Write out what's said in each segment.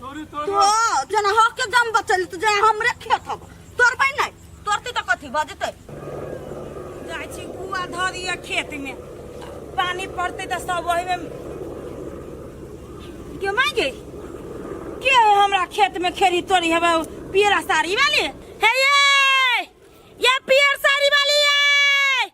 तोरी तो तोरी जना हक के दम बचल तो जना हमरे खेत हब तोर बन नहीं तोरती तो कथी भ जेतै जाइ छी कुआ धऽ दिअ खेत में पानी पड़तै तऽ सब ओहि में के माय गई के है हमरा खेत में खेरी तोरी हवे उ पीरा साड़ी वाली हे ये ये पीर साड़ी वाली ये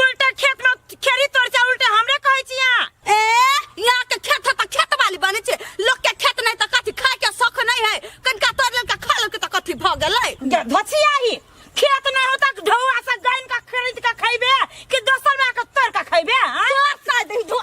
उल्टा खेत में खेरी तोड़ जा उल्टा हमरे कहै छी यहाँ ए यहाँ के खेत है तो खेत वाली बने छे लोग के खेत नहीं तो कथी खाए के शौक नहीं है कनका तोड़ लेलका खा लेलका तो कथी भ गेलै गे धसिया ही खेत नहीं होता कि ढौआ से गाइन का खरीद के खैबे कि दोसर में आके तोड़ के खैबे हाँ? तोड़ साइड ही धो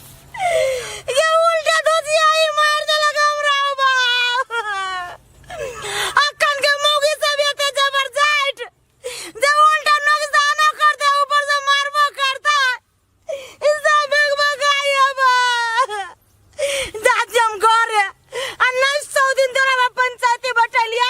ये उल्टा धोतिया ही मार देलक हमरा बाप अखन के मौगी सब एते जबरदस्त जे उल्टा नुकसानो कर दे ऊपर से मारबो करता इससे भगभगाई अब जात हम घर आ नहीं सौ दिन तोरा पंचायती बटलिया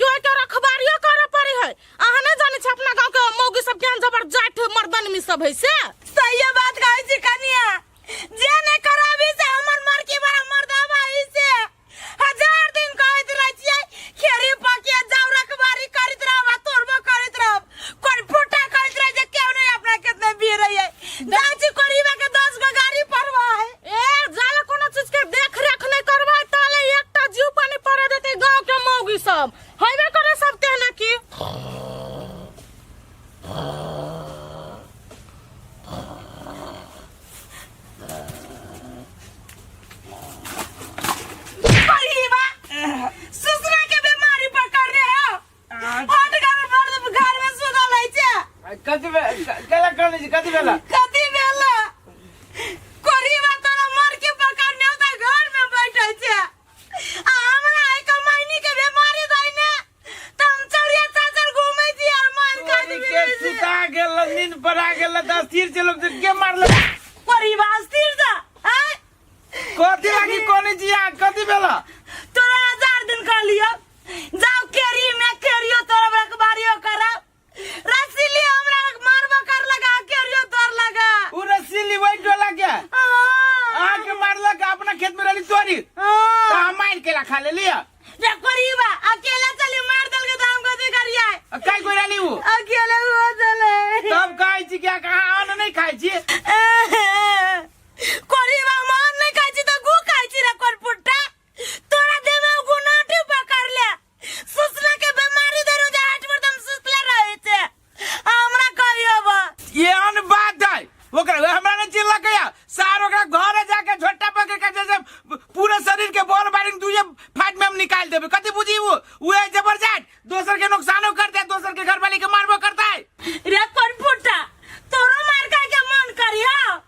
क्यों तो रखबारियो करे पड़ी है अहाँ नहीं जाने छे अपना गांव के मौगी सब ज्ञान जबरदस्त मर्दन में सब है से सही बात कहै छी कनिया जे ने कराबी से हमर मरकी बड़ा मर्दावा है से हजार दिन कहैत रहै छियै खेरी पके जाऊ रखबारी करैत रहब आ तोड़बो करैत रहब कोन पोटा कहत रहे जे केहू नहीं अपना कितने भी रही है दाची करीबा के 10 गो गाड़ी परवा है ए जाला कोनो चीज के देख रेख नहीं करबा ताले एकटा जीव पानी पड़े देते गांव के मौगी सब हइबे करे सब तेना की करीबा ससुरा के बीमारी पकड़ रहे हो हट का में पड़ दे घर में सुना लै छे कथी बे- क- केला कर लै छी कथी भेला कथी भेला कोरी में तोरा मर के पकड़ ने होता घर में बैठे छे आ हमरा है कमाइनी के बीमारी दै ने त हम चौरिया चाचर घूमे छी और मार खा कोरी के दी सुता गेल नींद पड़ा गेल त स्थिर छै लोग जे के मारल कोरी बास्तिर जा हैं कथी लागी कोनी जिया कथी भेला तोरा हजार दिन कर लियो जाओ केरी में केरियो तोरा बड़ा बारियो करा रसीली हमरा के मारबो कर लगा केरियो तोर लगा उ रसीली वही डोला के हाँ। आ के मारला के अपना खेत में रहली तोरी हाँ। ता मार के रखा ले लिया रे करीबा अकेला चली मार दल के दाम कथी करिया आ काई कोई रहली उ अकेले हो चले तब खाई छी क्या कहाँ अन्न नहीं खाई छी कोरी बा मान नहीं खाई छी तो गु खाई छी रे कोन पुट्टा तोरा देह में गु नाटी पकड़ ले सुसला के बीमारी देनु जा हट पर तुम सुसला रहे छे हमरा कहियो बा ये अन बात है ओकरा वे हमरा ने चिल्ला गया सार ओकरा घरे जाके झोटा पकड़ के जैसे पूरे शरीर के बोल बारिंग दूजे फाट में हम निकाल देबे कथी बुझी वो वो है जबरदस्त दोसर के नुकसानो करता है दोसर के घरवाली के मारबो करता है रे कोन पुट्टा तोरो मार खाए के मन करियो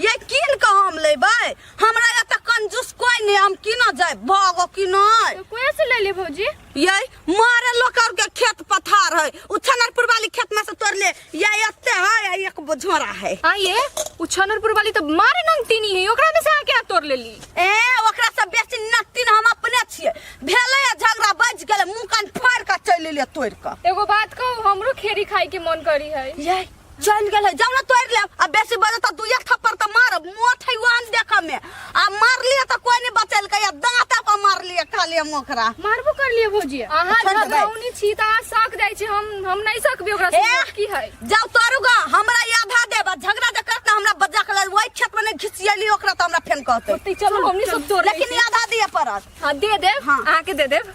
ये कीन के हम लेबै हमरा एतऽ कंजूस कोई नहीं हम कीनऽ जाय भागो कीनऽ तो कोया से ले ले भौजी ये मारे लोग और के खेत पथार है उ छनरपुर वाली खेत में से तोड़ ले ये एते है ये एक बोझोरा है हाँ ये उ छनरपुर वाली तो मारे नंगतीनी है ओकरा में से आके आ तोड़ ले ली ए ओकरा से बेसी नतिन हम अपने छिए भेले या झगड़ा बज गेले मुंह कान फाड़ के चलि ले तोड़ के एगो बात कहू हमरो खेरी खाए के मन करी है ये चल गेल है जाओ ना तोड़ ले अब बेसी बजे तो दुए थप्पड़ तो मार मोट है वान देख में आ मार लिए तो कोई नहीं बचल के या दांत पर मार लिए खाली मोकरा मारबो कर लिए भौजी अहाँ छोड़ देबै। घबराउनी छी तऽ अहाँ सक जाइ छी हम हम नहि सकबै ओकरा ए! से की है जाओ तोड़ूगा हमरा ये आधा दे बस झगड़ा जे करता हमरा बजा के लाल वही खेत में नहीं घिसियली ओकरा तो हमरा फेन कहते ओतै चलू हमनी सब तोड़ लै लेकिन छी। ये आधा दिए पड़त हाँ दे देब हाँ। अहाँके दे देब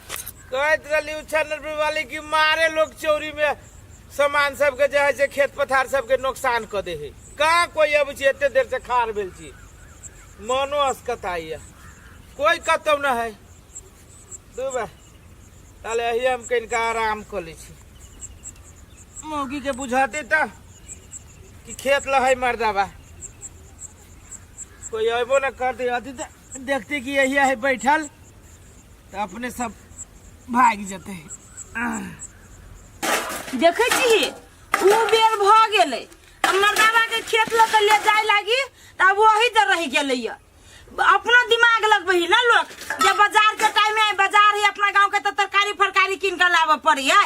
कहत रहली उछनर वाली की मारे लोग चोरी में सामान सबके जे है से खेत पथार सबके नुकसान कऽ दे है कहाँ कोई अब छी एते देर से खार भेल छी मनो असकताई है कोई कतौ न है दू बा ताले अही हम कनिका आराम कऽ लै छी मौगी के बुझाते तऽ कि खेत लहै मर्दाबा कोई अयबो न कर दे अथी तऽ देखते कि यही है बैठल तऽ अपने सब भागि जेतै देखै छी ओ बेर भऽ गेलै आ मर्दाना के खेत लऽ कऽ ले जाय लागी तऽ आब वही दर रहि गेलैया अपना दिमाग लगबही ना लोग जब बाजार के टाइम है बाजार है अपना गांव के तऽ तरकारी फरकारी कीन कऽ लाबऽ पड़ी है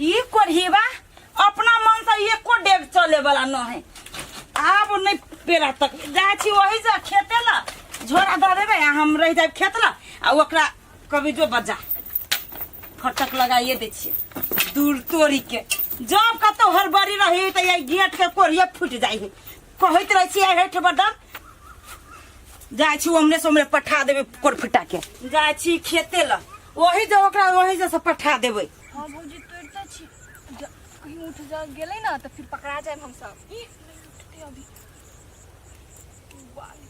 ई कोढ़ीबा अपना मन से एको डेग चले वाला न है आब नहीं पेरा तक जाए छी वही से खेते ला झोरा दे देबे आ हम रह जाए खेत ला आ ओकरा कभी जो बजा फटक लगाइए दै छियै दूर तोड़ी के जब कतौ हड़बड़ी रही तऽ ये गेट के कोरिया फूटि जाइ है कहैत रहै छियै हेठ बदन जाइ छी ओमरे सोमरे पठा देबै कोर फुटा के जाइ छी खेते लऽ ओही जे ओकरा ओही जे से पठा देबै हाँ भौजी तोड़ तो छी ज- कहीं उठ जा गेले ना तो फिर पकड़ा जाए हम सब ई, नहीं उठते अभी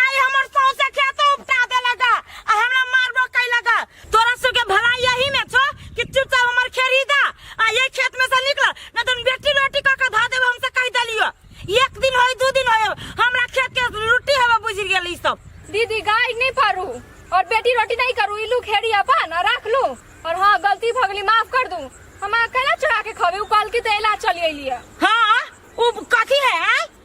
आई हमर सौंसे खेतो उपटा देलक आ हमरा मारबो कैलक तोरा सबके भला यही में छो कि चुपचाप हमर खेरी दा आ ये खेत में से निकल न तुम बेटी रोटी क के धा देब हमसे कह देलियो एक दिन होई दू दिन होई हमरा खेत के रोटी हवा बुझ गेल ई सब दीदी गाय नहीं पारू और बेटी रोटी नहीं करू इलू खेड़ी अपन और रख लू और हाँ गलती भगली माफ कर दू हम अकेला चढ़ा के खबे उपाल के तेला चली अलिया हां उ कथी है आय?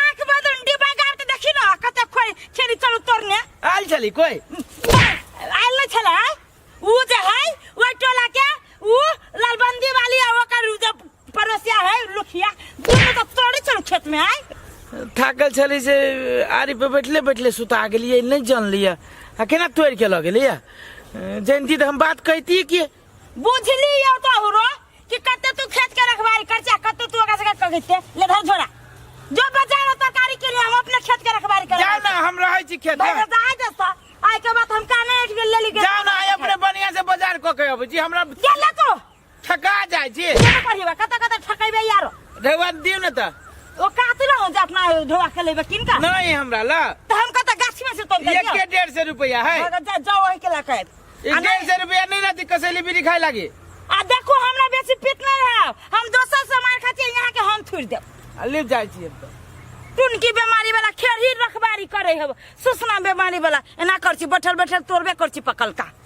आंख बदल में डिब्बा गाड़ के देखी ना कते खोई छेरी चलू तोरने आयल छली कोई आयल न छला ऊ जे है वो टोला के ऊ लालबंदी वाली आ ओकर ऊ जे पड़ोसिया है लुखिया दोनों तो तोड़े चलू खेत में आय थाकल छली से आरी पे बैठले बैठले सुता गेलिए नहीं जान लिया आ केना तोड़ के लगे लिया जयंती तो हम बात कहती कि बुझली यो तो हुरो कि कते तू खेत के रखवारी कर चाहे कते तू ओकरा सके कह देते ले धर झोरा जो बचा लो तरकारी के लिए हम अपने खेत के रखवारी कर जाओ ना हम रहै छी खेत भाई बता है जस्ता आय के बाद हम काने उठ के ले ली के जाओ ना आइ अपने बढ़िया से बाजार क के अबै छी हमरा के ले तो ठका जाइ छी ये करिबा कते कते ठकैबे यारो रेवा दियो न त ओ कात ना हो जा अपना ढोवा के लेबे किनका नहीं हमरा ल तो हम कते गाछ में से तोड़ एक के डेढ़ सौ रुपया है अगर जा जाओ वही के ला के ई आ डेढ़ नहीं- सौ रुपया नहीं रहती कसैली बीड़ी खाए लागी आ देखो हमरा बेसी पित नहीं है हम दोसर से मार खाती यहाँ के हम थूर देब आ ले जाए छी अब तो टुनकी बीमारी वाला खेरही रखबारी करे हब सुसना बीमारी वाला एना कर छी बैठल बैठल तोड़बे कर छी पकलका